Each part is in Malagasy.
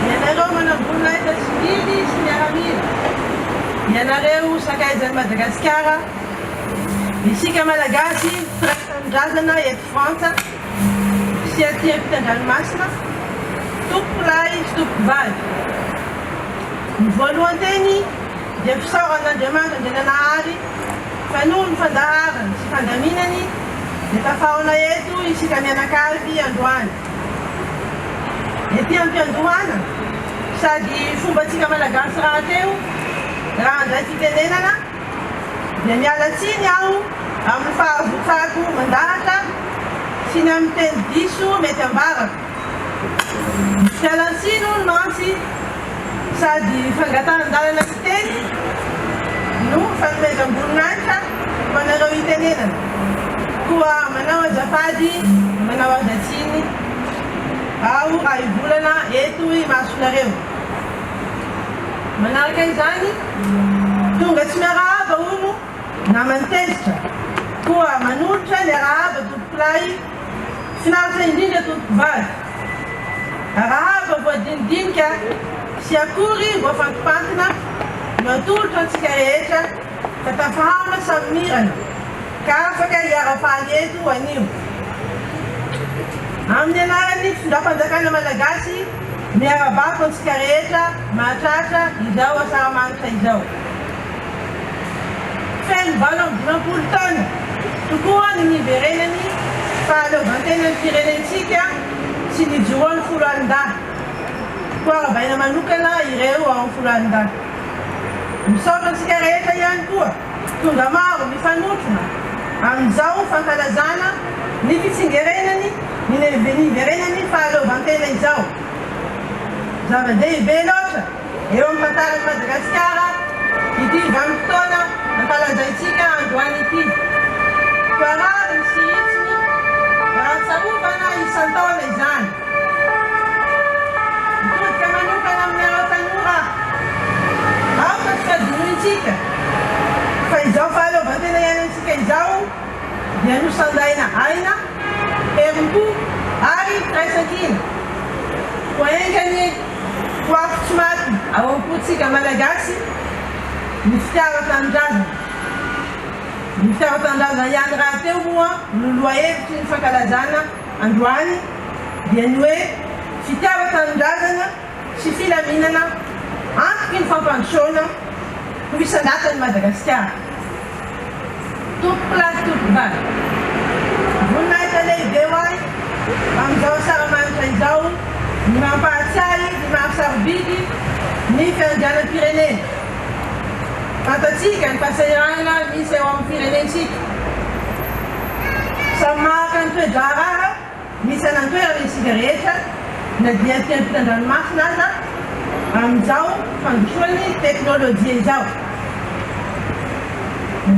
Ianareo manambola efa tsy mily sy miaramila. Ianareo sakaizan'i Madagasikara. Isika Malagasy mpiray tanindrazana eto Frantsa sy aty ampitan-dranomasina, tompom-piray sy tompom-bady. Ny voalohan-teny dia fisaorana an'Andriamanitra Andriananahary fa noho ny fandaharany sy fandaminany dia tafahaona eto isika mianakavy androany. Ety am-piandohana, sady fombantsika Malagasy rahateo, raha handray fitenenana, dia miala tsiny aho amin'ny fahavotsako mandahatra sy ny amin'ny teny diso mety ambarako. Fialan-tsiny hono mantsy sady fangatahan-dalana ny teny no fanomezam-boninahitra. Fanarao itenenana. Koa manao azafady, manao azatsiny aho raha hivolana eto imasonareo. Manaraka izany, tonga tsy miarahaba hono naman'ny tezitra. Koa manolotra ny arahaba tompokolahy. Finaritra indrindra tompokovady. Arahaba voadinidinika sy akory voafantipantina no atolotra antsika rehetra. Fa tafahana samy mirana ka afaka hiara-paly eto anio. Amin'ny anaran'ny fitondram-panjakana malagasy, miara-bako antsika rehetra mahatratra izao asaramanitra izao. Feno valo amby dimampolo taona tokoa ny niverenan'ny fahaleovantenan'ny firenentsika sy nijoroan'ny foloalindahy. Koa arabaina manokana ireo ao amin'ny foloalindahy. Misaotra antsika rehetra ihany koa tonga maro nifanotrona amin'izao fankalazana ny fitsingerenany ny niverenany fahaleovantena izao. Zava-dehibe loatra eo amin'ny tantaran'i Madagasikara ity vanim-potoana ankalazantsika androany ity. Koa rariny sy hitsiny raha ahatsiarovana isan-taona izany. Mitodika manokana aminareo tanora aho fa tsy fadinointsika fa izao fahaleovantena iainantsika izao dia nosandaina aina, herim-po ary firaisankina. Koa enga anie ho afo tsy maty ao am-pontsika Malagasy ny fitiava tanindrazana. Ny fitiava tanindrazana ihany rahateo moa no lohahevitry ny fankalazana androany dia ny hoe fitiavan-tanindrazana sy filaminana antoky ny fampandrosoana ho isan-datan'i Madagasikara. Tompokolahy sy tompokovavy, voninahitra lehibe ho ahy amin'izao asaramanitra izao ny mampahatsiahy ny maha-sarobidy ny fiandrianam-pirenena. Fantatsika ny fahasahiranana misy eo amin'ny firenentsika. Samy mahaka ny toe-draharaha misy any an-toerana isika rehetra, na dia aty ampitan-dranomasina aza, amin'izao fandrosoan'ny teknolojia izao.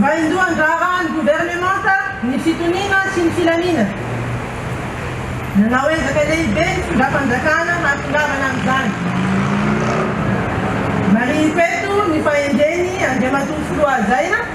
Vaindohan-draharahan'ny governemanta ny fitoniana sy ny filamiana. Nanao ezaka lehibe ny fitondram-panjakana hahatongavana amin'izany. Marihiko eto ny fahendren'i Andriamatoa Filoha Hajaina,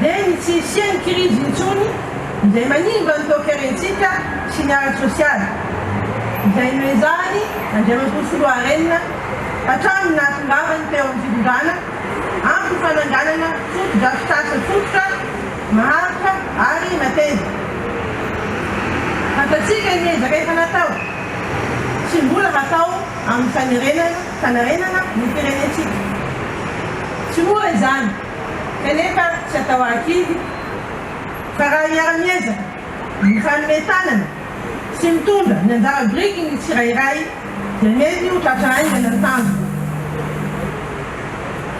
dia ny tsy hisian'ny krizy intsony izay manimba ny toekaretsika sy ny ara-tsosialy, izay noezahan'i Andriamatoa Soloarenina hatramin'ny nahatongavany teo amin'ny fitondrana, antony fananganana fotodrafitrasa fototra, maharitra ary mateza. Fantatsika ny ezaka efa natao sy mbola hatao amin'ny fanerena fanarenana ny firenentsika. Tsy mora izany. kanefa tsy atao arkivo fa raha hiara-miezaka mifanome tanana sy mitondra ny anjara birikiny ny tsirairay dia mety ho tratra haingana ny tanjona.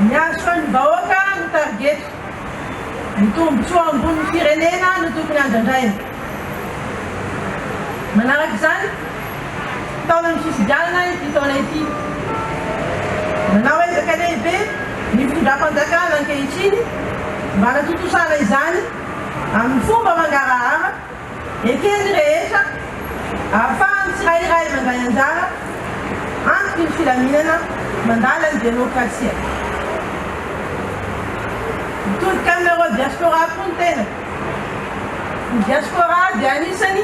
Ny hahasoan'ny vahoaka no targetiko, ny tombontsoa ambon'ny firenena no tokony andrandraina. Manaraka izany, tao amin'ny fifidianana ity taona ity, nanao ezaka lehibe ny fitondram-panjakana ankehitriny mba hanatontosana izany amin'ny fomba mangarahara, eken'ny rehetra, ahafahan'ny tsirairay mandray anjara antoky ny filaminana mandala ny demokrasia. Mitodika aminareo diaspora koa ny tena. Ny diaspora dia anisany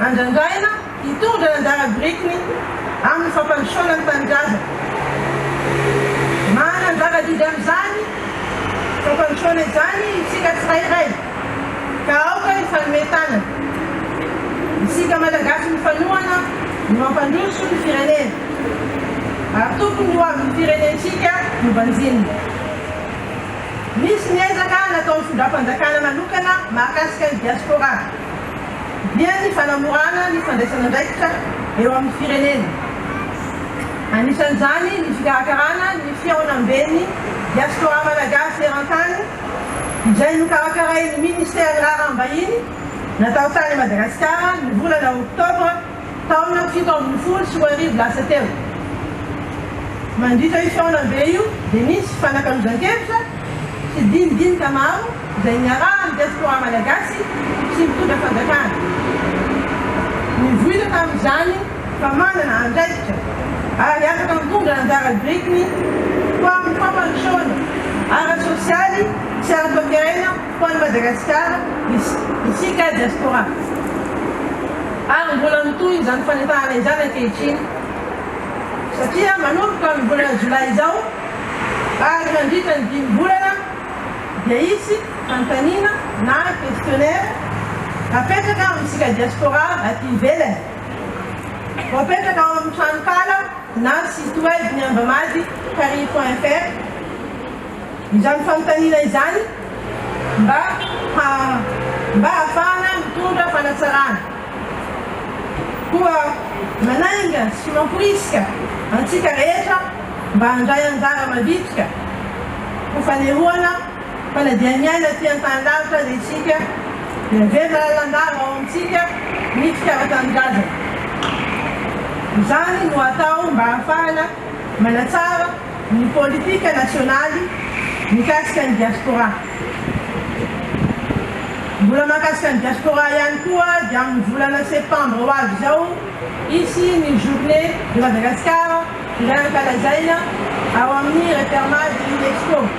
andrandraina hitondra ny anjara birikiny amin'ny fampandrosoana ny tanindrazana. Manana anjara didy amin'izany fampandrosoana izany isika tsirairay ka aoka hifanome tanana isika Malagasy mifanohana ny mampandroso ny firenena ary tokony ho avin'ny firenentsika no banjinina. Nisy ny ezaka nataon'ny findram-panjakana manokana mahakasika ny diaspora, dia ny fanamorana ny fandraisan'andraikitra eo amin'ny firenena. Anisan'izany ny fikarakarana ny fihaonamben'ny diaspora malagasy eran-tany, izay nokarakarain'ny Ministeran'ny Raharaham-bahiny natao tany Madagasikara ny volana oktobra taona fito ambin'ny folo sy roa arivo lasa teo. Mandritra io fihaonambe io dia nisy fifanakalozan-kevitra sy dinidinika maro izay niarahan'ny diaspora malagasy sy mpitondra fanjakana. Nivoitra tamin'izany fa manana andraikitra ary afaka mitondra anjara birikiny ho amin'ny fampandrosoana ara-tsosialy sy ara-toekarena Ho an'i Madagasikara, isika diaspora, ary mbola mitohy izany fanentanana izany ankehitriny satria manomboka amin'ny volana jolay izao ary mandritra ny dimy volana dia hisy fanontaniana na questionnaire hapetraka amintsika diaspora aty ivelany. Voapetraka ao amin'ny tranonkala na site web ny Ambamady Paris point fr izany fanontaniana izany. mba ha mba hahafahana mitondra fanatsarana. Koa manainga sy mamporisika antsika rehetra mba handray anjara mavitrika ho fanehoana fanadihamiaina aty an-tany lavitra aza isika dia miverina lalandava ao amintsika ny fitiavan-tanindrazana. Izany no atao mba hahafahana manatsara ny politika nasionaly mikasika ny diaspora. Mbola mahakasika ny diaspora ihany koa dia amin'ny volana septambra ho avy izao hisy ny journée de Madagascar izay ankalazaina ao amin'ny Referma de L'Expo.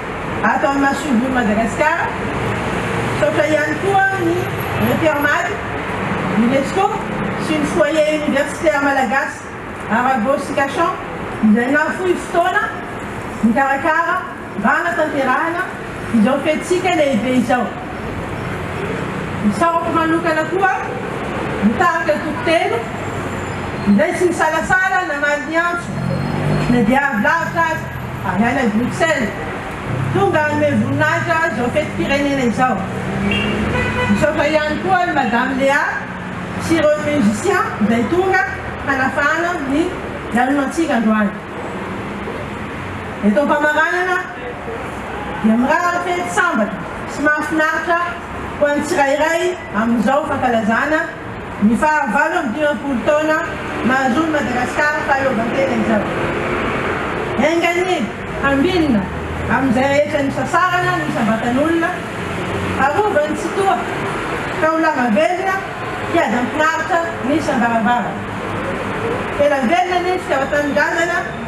ato amin'ny masomboly Madagasikara. Misaotra ihany koa ny Repermad, Unesco sy ny Foyer Universitaire Malagasy Arago sy Cachan izay nahafoy fotoana nikarakara mba hanatanterahana izao fetintsika lehibe izao. Misaotra manokana koa ny tarika Antoko Telo izay tsy nisalasala namaly ny antso na dia avy lavitra aza. Avy any Bruxelles, tonga hanome voninahitra izao fetim-pirenena izao. Misaotra ihany koa an'i Madame Léa sy ireo musiciens izay tonga hanafahana ny lanonantsika androany. Eto am-pamaranana dia mirary fety sambatra sy mahafinaritra ho an'ny tsirairay amin'izao fankalazana. Ny fahavalo amby dimampolo taona mahazoan'i Madagasikara fahaleovantena izao. Enga anie hambinina amin'izay rehetra nisasarana ny isam-batan'olona, harovany ny Tsitoha, taolana velona, hiady amin'ny mpiharitra ny isam-baravarana. Tena velona anie ny fitiavan-tanindrazana.